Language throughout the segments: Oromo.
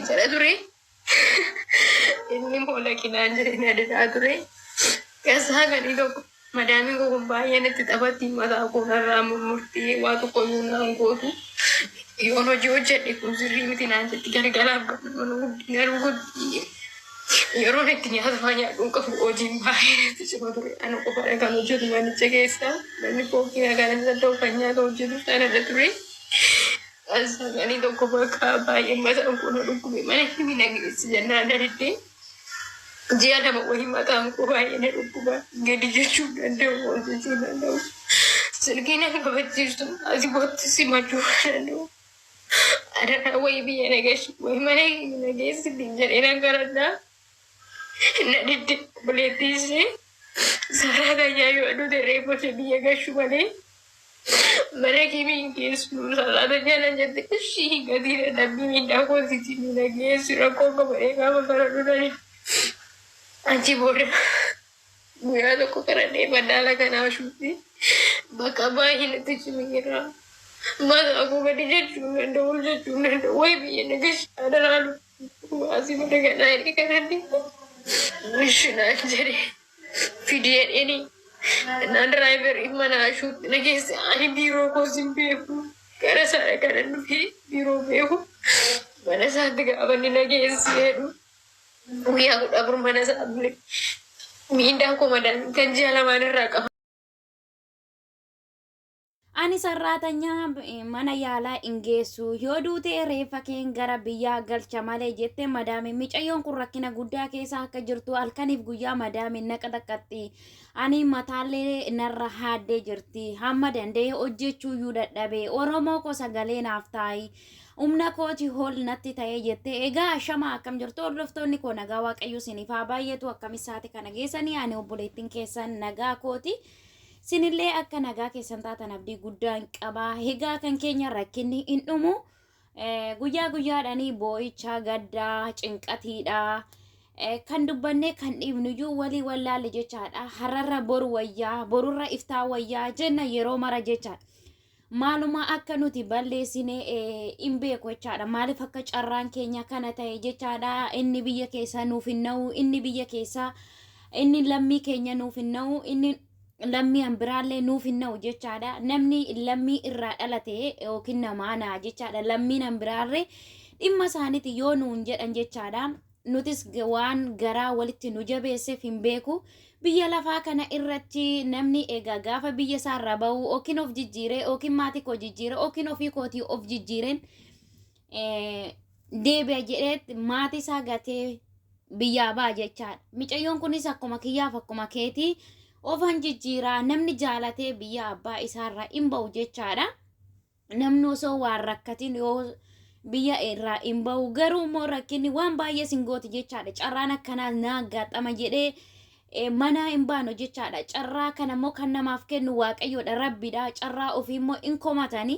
jala ture. Inni moola kinaan jireenya adeemaa ture. Keessaa gadi tokko madaamiin koo kun baay'een itti taphatti mataa koo irraa murmurtee waa tokko yoo naan gootu yoon hojii hojjedhe kun sirrii miti naan jetti galgalaaf garuu guddina rukutti Yeroon itti nyaatamaa nyaadhuu qabu hojiin baay'ee natti cima ture. Ana qofadha kan hojjetu manicha keessa. Namni kookii nagaan isa ta'u kan nyaata hojjetu sanadha ture. Ani tokko bakka baay'ee mataan koo na dhukkube mana himi na geessi jennaan na diddee. Ji'a lama wayii mataan koo baay'ee na dhukkuba. Gadi jechuu hin danda'u, ol jechuu hin danda'u. Silkii na hin kabachiisu, asii kootti simachuu hin danda'u. Adaraa wayii biyya nageessi wayii mana nageessi ittiin jedhee nan garadhaa. Na didde buleettii ishee saaraa tayyaa yoo aduu dirree boshee biyya gashu malee mana kiimii hin geessu saaraa tayyaa nan jette ishii hin gatii dadhabbii miidhaa koositii ni nageessi rakkoo qaba eegaa bafaradhu na didde. Achi booda Guyyaa tokko qaradhee madaala kanaa ashuutti bakka baay'ee natti cimi jira. Mataa koo gadi jechuu hin danda'u, ol jechuu hin danda'u. Wayi biyya na gashi adaraa lubbuu baasii mana kanaa inni kanatti. Ishi naan jedhe fidee dheeni na diraayiverii mana ashuutti na geesse ani biiroo koos hin beeku. Gara isaadha kanan dhufee biiroo beeku. Mana isaatti gaafa inni na geesse jedhu Guyyaa kudha afur mana isaa bule. Miindaa koo madaan kan ji'a lamaan irraa qaba. Ani sarraatanyaa eh, mana yaalaa hin geessu yoo duute reeffa keen gara biyyaa galcha malee jette madaamiin micayyoon kun rakkina guddaa keessa akka jirtu halkaniif guyyaa madaamiin naqa xaqqaxxi ani mataallee narra haaddee jirti hamma danda'e hojjechuu iyyuu dadhabe oromoo koo sagalee naaf taa'i Humna kooti hool natti ta'ee jettee egaa ashamaa akkam jirtu hordoftoonni koo nagaa waaqayyo isiniif haa baay'atu akkamis saate kana geessanii ani obboleettiin keessan nagaa kooti sinillee akka nagaa keessan taatan abdii guddaan qaba egaa kan keenya rakkinni hin dhumu Eh, guyyaa guyyaadhaanii boo'icha gaddaa cinqatiidha Eh, kan dubbannee kan dhiibnuyyuu walii wallaalle jechaadha har'arra boru wayyaa borurra iftaa wayyaa jenna yeroo mara jechaadha maaluma akka nuti balleessine hin beeku jechaadha. Maaliif akka carraan keenya kana ta'e jechaadha. Inni biyya keessaa nuuf hin na'u, inni biyya keessaa inni lammii keenya nuuf hin na'u, inni lammii an biraallee nuuf hin na'u jechaadha. Namni lammii irraa dhalate yookiin namaa na'a jechaadha. Lammiin an biraarree dhimma isaaniiti yoo nuun jedhan jechaadha. nutis waan garaa walitti nu jabeesseef hin beeku. Biyya lafaa kana irratti namni egaa gaafa biyya isaa irraa ba'u yookiin of jijjiire yookiin maatii koo jijjiire yookiin ofii kootii of jijjiireen eh, deebi'a jedheet maatii isaa gatee biyyaa ba'a jechaadha. Micayyoon kunis akkuma kiyyaaf akkuma keetii ofan jijjiiraa namni jaalatee biyya abbaa isaarraa hin ba'u jechaadha. namni osoo waan rakkatiin yoo biyya irraa hin ba'u garuu immoo rakkinni waan baay'ee sin gooti jechaadha carraan akkanaa naa gaaxama jedhee eh, manaa hin baanu jechaadha carraa kana immoo kan namaaf kennu waaqayyoodha rabbiidha carraa ofii immoo hin komatani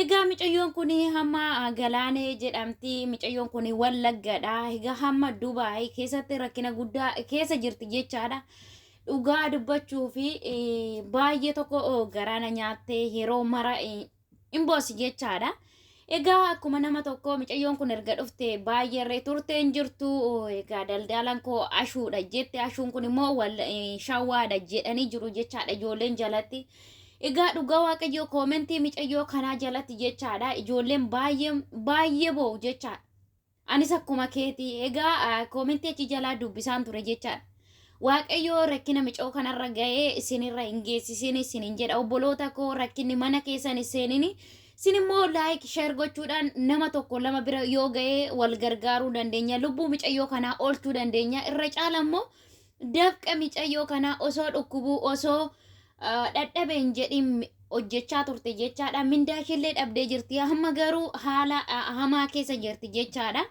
egaa micayyoon kun hamma ah, galaanee jedhamti micayyoon kun wallaggadha egaa hamma dubaay keessatti rakkina guddaa keessa jirti jechaadha Dhugaa dubbachuu fi baay'ee tokko garaa na nyaattee yeroo mara hin boosi jechaadha. Egaa akkuma nama tokko micayyoon kun erga dhufte baay'ee irree turtee hin jirtu. Egaa daldaalaan koo ashuudha jette ashuun kun immoo wal shawaadha jedhanii jiru jechaadha ijoolleen jalatti. Egaa dhugaa waaqayyoo koomentii micayyoo kanaa jalatti jechaadha ijoolleen baay'ee baay'ee boo'u jechaadha. Anis akkuma keeti egaa koomentii achi jalaa dubbisaan ture jechaadha. Waaqayyoo rakkina micoo kanarra ga'ee isinirra hin geessisin isinin jedha obboloota koo rakkinni mana keessan hin seenini. Sin immoo laayik sheer gochuudhaan nama tokko lama bira yoo ga'ee wal gargaaruu dandeenya lubbuu micayyoo kanaa oolchuu dandeenya irra caala immoo Dafqa micayyoo kanaa osoo dhukkubuu osoo dhadhabe hin jedhin hojjechaa turte jechaadha. Mindaa isheellee dhabdee jirti. Amma garuu haala hamaa keessa jirti jechaadha.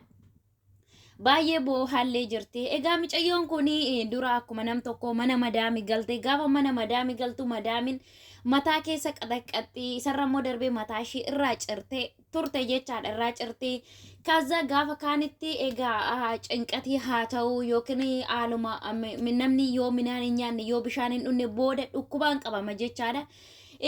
Baay'ee boohallee jirti. Egaa micayyoon kun dura akkuma nam tokko mana madaami galte gaafa mana madaami galtu madaamin mataa keessa qaxaqqaxxi isarra immoo darbee mataa ishee irraa cirte turte jechaadha irraa cirtee kaza gaafa kaanitti egaa ah, cinqatii haa ta'u yookiin haaluma ah, mi- mi- namni yoo midhaan hin nyaanne yoo bishaan hin dhunne booda dhukkubaan qabama jechaadha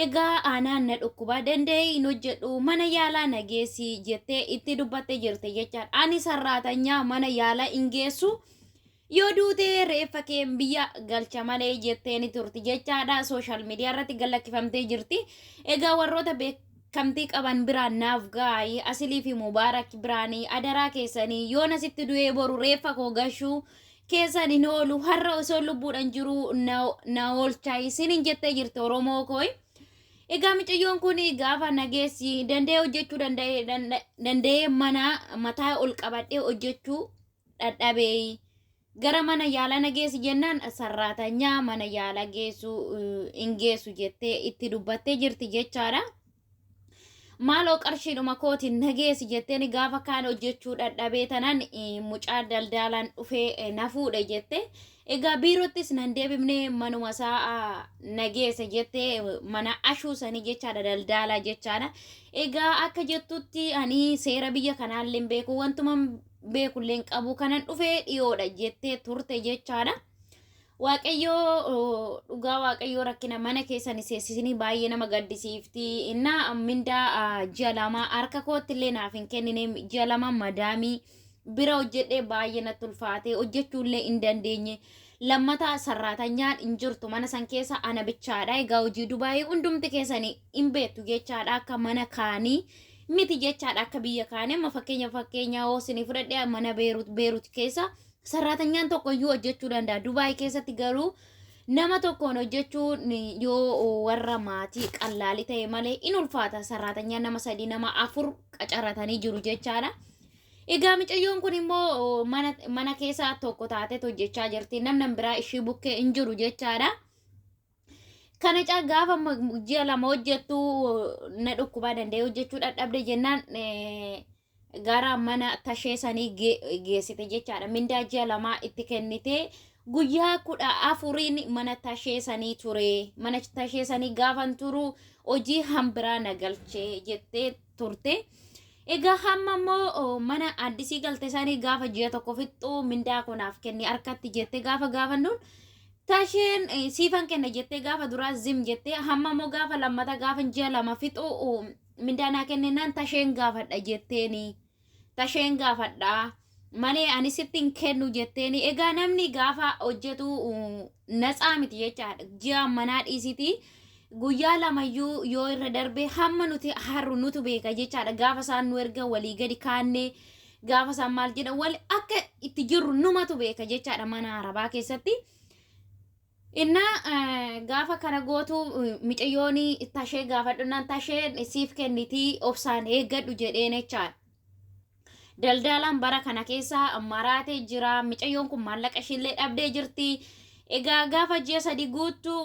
egaa aanaan na dhukkubaa danda'ee hin hojjedhu mana yaalaa na geessi jettee itti dubbatte jirte jechaadha ani sarraatanyaa mana yaalaa hin geessu Yoo duute reeffa kee biyya galcha malee jettee ni turti jechaadha. Sooshaal miidiyaa irratti gad lakkifamtee jirti. Egaa warroota beekamtii qaban biraan naaf gaayi Asilii fi Mubaarak biraanii adaraa keessanii yoon asitti du'ee boru reeffa koo gashuu keessan hin oolu har'a osoo lubbuudhaan jiru na, na oolchaa isiniin jettee jirti Oromoo kooyi. Egaa miciyyoon kun gaafa nageessi danda'ee hojjechuu danda'ee danda'ee mana mataa ol qabadhee hojjechuu dhadhabeeyi gara mana yaalaa na geessi jennaan sarraatanyaa mana yaalaa geessu hin geessu jettee itti dubbattee jirti jechaadha. Maaloo qarshiidhuma kootiin na geessi jetteen gaafa kaan hojjechuu dhadhabee tanan mucaa daldaalaan dhufee na fuudhe jette. Egaa biirottis nan deebifne manuma isaa na geesse jette mana ashuu sanii jechaadha daldaalaa jechaadha. Egaa akka jettutti ani seera biyya kanaallee hin beeku wantuman beekullee hin qabu kanan dhufee dhiyoodha jettee turte jechaadha. Waaqayyoo oo, dhugaa waaqayyoo rakkina mana keessan seessisinii baay'ee nama gaddisiifti. Innaa mindaa ah, ji'a lamaa harka kootti illee naaf hin kennine ji'a lama madaamii bira hojjedhee baay'ee natti ulfaate hojjechuu illee hin dandeenye. Lammataa sarraatanyaan hin jirtu mana san keessa ana bichaadha. Egaa hojii dubaayii hundumti keessanii hin beektu jechaadha akka mana kaanii miti jechaadha akka biyya kaanii amma fakkeenya fakkeenya hoo isinii fudhadhe mana beerut beerut keessa sarraatanyaan tokko iyyuu hojjechuu danda'a dubaay keessatti garuu nama tokkoon hojjechuun yoo warra maatii qallaalii ta'e malee in ulfaata sarraatanyaan nama sadii nama afur qacaratanii jiru jechaadha. Egaa micayyoon kun immoo mana, mana keessaa tokko taateet hojjechaa jirti namni biraa ishii bukkee hin jiru jechaadha. Kana caa gaafa ma- ji'a lama hojjettu na dhukkubaa danda'ee hojjechuu dadhabde jennaan eh, gara mana tashee sanii ge- geessite jechaadha. Mindaa ji'a lamaa itti kennite guyyaa kudha afuriin mana tashee sanii ture. Mana tashee sanii gaafan turu hojii hambiraa na galchee jettee turte. Egaa hamma immoo mana addisii galte isaanii gaafa ji'a tokko fixxu mindaa koo naaf kenni harkatti jettee gaafa gaafannuun tasheen siifan kenna jettee gaafa duraa zim jettee hamma immoo gaafa lammata gaafa ji'a lama fixu mindaa naa kennennaan tasheen gaafadha jetteeni. Tasheen gaafadha. Malee ani sitti hin kennu jetteeni. Egaa namni gaafa hojjetu uh, natsaa miti jechaadha. Ji'a manaa dhiisiti. Guyyaa lamayyuu yoo irra darbe hamma nuti harru nutu beeka jechaadha. Gaafa isaan nu erga walii gadi kaannee gaafa isaan maal jedhan wal akka itti jirru numatu beeka jechaadha mana arabaa keessatti. Innaa gaafa kana gootu micayyoon tashee gaafadhunnaan tasheen siif kennitii obsaan eeggadhu jedheen jechaan. Daldaalaan bara kana keessa maraatee jira. Micayyoon kun maallaqa ishiillee dhabdee jirti. Egaa gaafa ji'a sadi guuttu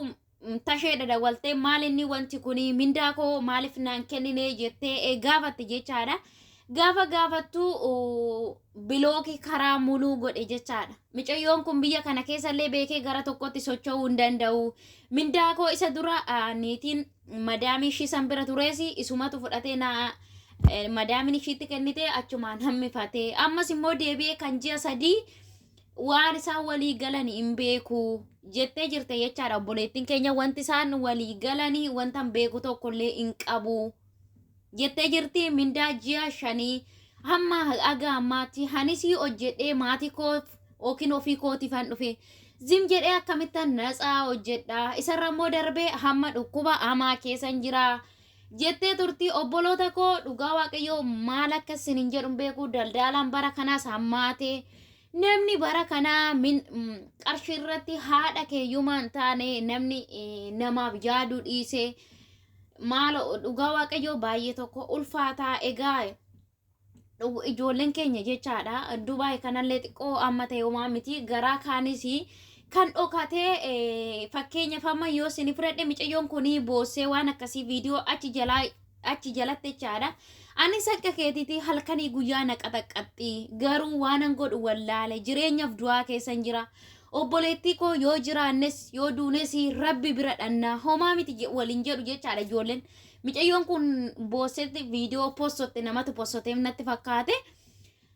tashee dadawwaltee maal inni wanti kun mindaa koo maaliif naan kennine jettee gaafatte jechaadha. Gaafa gaafattu bilooki karaa muluu godhe jechaadha. Micayyoon kun biyya kana keessallee beekee gara tokkotti socho'uu hin danda'u. Mindaa koo isa dura niitiin madaamii ishii san bira turees isumatu fudhatee na madaamin ishiitti kennite achumaan hammifatee ammas immoo deebi'ee kan ji'a sadii waan isaan walii galan hin beeku jettee jirte jechaadha obboleettiin keenya wanti isaan walii galanii wantan beeku tokkollee hin qabu. jettee jirti mindaa ji'a shanii hamma haga ammaatti hanisii hojjedhee maatii koof yookiin ofii kootiif han dhufe zim jedhee akkamittan natsaa hojjedha isarra immoo darbee hamma dhukkuba hamaa keessan jira jettee turtii obboloota koo dhugaa waaqayyoo maal akka isin hin jedhu hin beeku daldaalaan bara kanaas hammaate namni bara kanaa min- mm, qarshii irratti haadha keeyyumaa hin taane namni eh, namaaf yaaduu dhiise Maalo dhugaa waaqayyoo baay'ee tokko ulfaataa egaa dhugu- ijoolleen keenya jechaadha dubaay kanallee xiqqoo amma ta'e homaa miti garaa kaanis kan dhokatee eh, fakkeenyaaf amma yoo isin fudhadhe micayyoon kun boossee waan akkasii viidiyoo achi jalaa achi jalatti jechaadha ani sakka keetiitii halkanii guyyaa na qaxaqqaxxii garuu waanan godhu wallaale jireenyaaf du'aa keessan jira Obboleettii koo yoo jiraannes yoo duunes rabbi bira dhannaa homaa miti je- waliin jedhu jechaadha ijoolleen. Micayyoon kun boossetti viidiyoo possotte namatu possoteef natti fakkaate.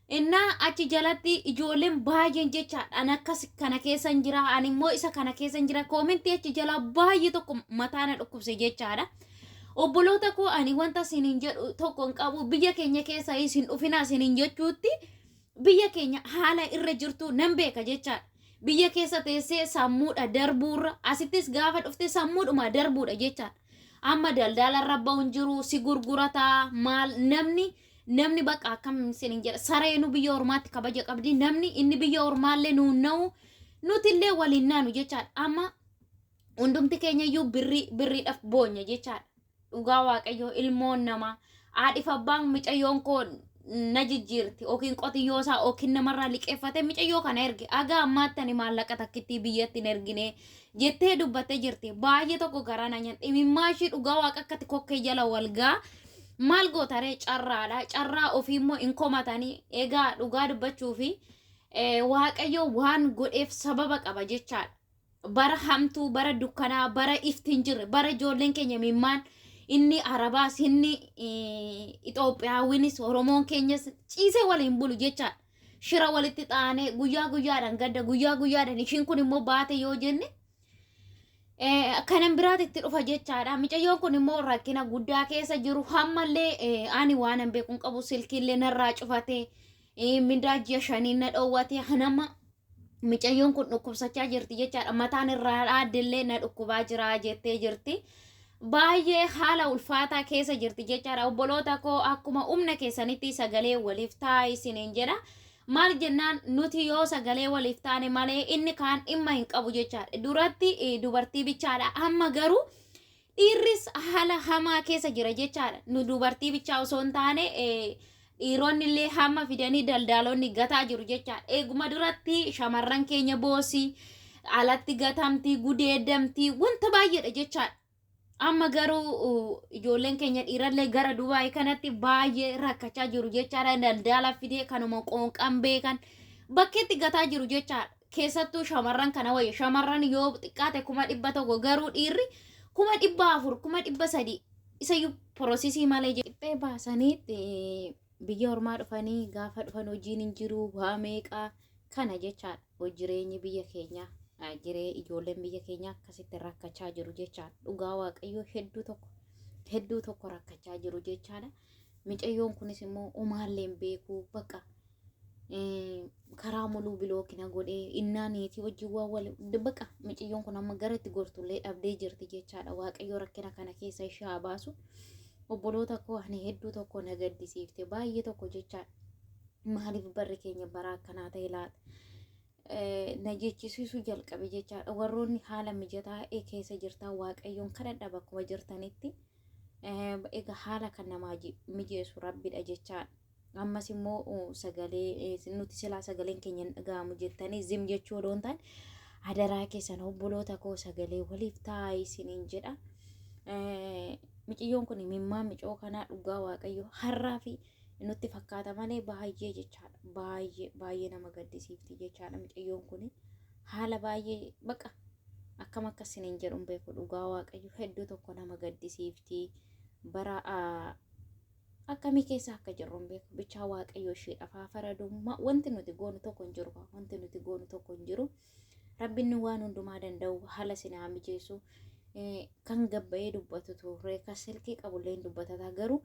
Innaa achi jalatti ijoolleen baay'een jechaadha an akkas kana keessan jira an immoo isa kana keessan jira koomentii achi jalaa baay'ee tokko mataa na dhukkubse jechaadha. Obboloota koo ani wanta isiniin jedhu tokko hin qabu biyya keenya keessa isin dhufinaa isiniin jechuutti biyya keenya haala irra jirtu nan beeka jechaadha. Biyya keessa teessee sammuudha darbuurra asittis gaafa dhufte sammuudhuma darbuudha jechaadha. Amma daldala irra ba'uun jiru si gurgurataa maal namni namni bakka akkam isiniin jedha sareenu biyya ormaatti kabaja qabdi namni inni biyya ormaallee nuun na'u nutillee waliin naanu jechaadha. Amma hundumti keenya iyyuu birrii birriidhaaf boonya jechaadha. dhugaa waaqayyoo ilmoon namaa haadhif abbaan micayyoon koo na jijjiirti yookiin qotiyyoo isaa yookiin namarraa liqeeffate micayyoo kana erge haga ammaatti ani maallaqa takkittii biyyatti hin ergine jettee dubbattee jirti baay'ee tokko garaa na nyaadhe imimmaa ishii dhugaa waaqa akkatti kokkee jala walgaa maal gootaree carraadha carraa ofii immoo hin komatanii egaa dhugaa dubbachuu fi waaqayyoo waan godheef sababa qaba jechaadha. bara hamtuu, bara dukkanaa, bara ifti hin jirre, bara ijoolleen keenya mimmaan inni Arabaas, inni Itoophiyaawwinis, Oromoon keenyas ciisee waliin bulu jechaadha. Shira walitti xaanee guyyaa guyyaadhaan gadda guyyaa guyyaadhaan ishiin kun immoo baate yoo jenne kanan biraatti itti dhufa jechaadha. Micayyoon kun immoo rakkina guddaa keessa jiru hammallee ani waan hin beekun qabu silkiillee narraa cufatee Eh, Mindaa ji'a shaniin na dhoowwatee hanama micayyoon kun dhukkubsachaa jirti jechaadha. Mataan irraa dhaaddellee na dhukkubaa jira jettee jirti. Baay'ee haala ulfaataa keessa jirti jechaadha. Obboloota koo akkuma humna keessanitti sagalee waliif taa isiniin jedha. Maal jennaan nuti yoo sagalee waliif taane malee inni kaan dhimma hin qabu jechaadha. Duratti eh, dubartii bichaadha. Amma garuu Dhiirris haala hamaa keessa jira jechaadha. Nu dubartii bichaa osoo hin taane eh, dhiironni illee hamma fidanii daldaalonni gataa jiru jechaadha. Eeguma duratti shamarran keenya boosi, alatti gatamti, gudeedamti, wanta baay'eedha jechaadha. Amma garuu uh, ijoolleen keenya dhiirallee gara Dubaay kanatti baay'ee rakkachaa jiru jechaadha. Daldaala fidee kanuma qoonqan beekan bakkeetti gataa jiru jechaadha. keessattuu shamarran kana wayya shamarran yoo xiqqaate kuma dhibba tokko garuu dhiirri kuma dhibba afur kuma dhibba sadii isayyuu porosisii malee dhiphee baasanii biyya ormaa dhufanii gaafa dhufan hojiin hin jiru waa meeqaa kana jechaadha hojii jireenyi biyya keenyaa eh, jiree ijoolleen biyya keenyaa akkasitti rakkachaa jiru jechaadha dhugaa waaqayyoo hedduu tokko hedduu tokko rakkachaa jiru jechaadha micayyoon kunis immoo umaalleen beekuu baqa karaa muluu bilooki na godhee innaa niitii wajjin waa wal baqa miciyyoon kun amma gara itti gortullee dhabdee jirti jechaadha waaqayyo rakkina kana keessa ishee haa baasu obboloota koo ani hedduu tokko na gaddisiifte baay'ee tokko jechaadha maaliif barri keenya bara akkanaa ta'e laata na jechisiisuu jalqabe jechaadha warroonni haala mijataa keessa jirtan waaqayyoon kadhadha bakkuma jirtanitti egaa haala kan namaa mijeessu rabbidha jechaadha. ammas immoo uh, sagalee eh, nuti silaa sagaleen keenya hin dhaga'amu jettanii zim jechuu odoo hin taane adaraa keessan obboloota koo sagalee waliif taa'aa isiniin jedha. Eh, Miciyyoon kun mimmaa micoo kanaa dhugaa waaqayyo har'aa fi nutti fakkaata malee baay'ee jechaadha. Baay'ee baay'ee nama gaddisiifti jechaadha miciyyoon kun haala baay'ee baqa akkam akka isiniin jedhu hin beeku dhugaa waaqayyo hedduu tokko nama gaddisiifti bara ah, akkamii keessa akka jirru hin beeku bichaa waaqayyo isheedhaaf haa faradu Ma- wanti nuti goonu tokko hin jiru wanti nuti goonu tokko hin jiru rabbinni waan hundumaa danda'u haala isin haa mijeessu Eh, kan gabbayee dubbatu turre kan silkii qabullee hin dubbatataa garuu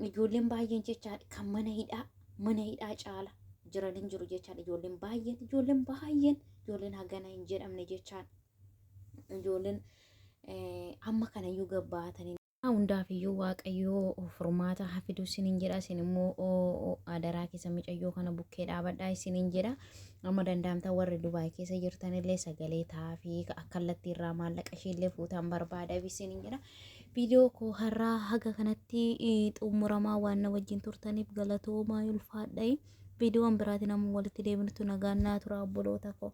ijoolleen baay'een jechaa kan mana hidhaa mana hidhaa caala jiran hin jiru jechaan ijoolleen baay'een ijoolleen baay'een ijoolleen hagana hin jedhamne jechaan ijoolleen eh, amma kanayyuu gabbaatanii Hundaafiyyuu waaqayyoo furmaata hafiduu sinin jedha isin immoo adaraa keessa micayyoo kana bukkee dhaabadhaa isinin jedha amma danda'amta warri dubaay keessa jirtanillee sagalee taafii akkallatti irraa maallaqa ishiillee fuutaan barbaada isinin jedha viidiyoo koo har'aa haga kanatti xumuramaa waan na wajjin turtaniif galatoomaa ulfaadha'i viidiyoon biraatiin amma walitti deebinutu nagaan naa tura obboloota koo.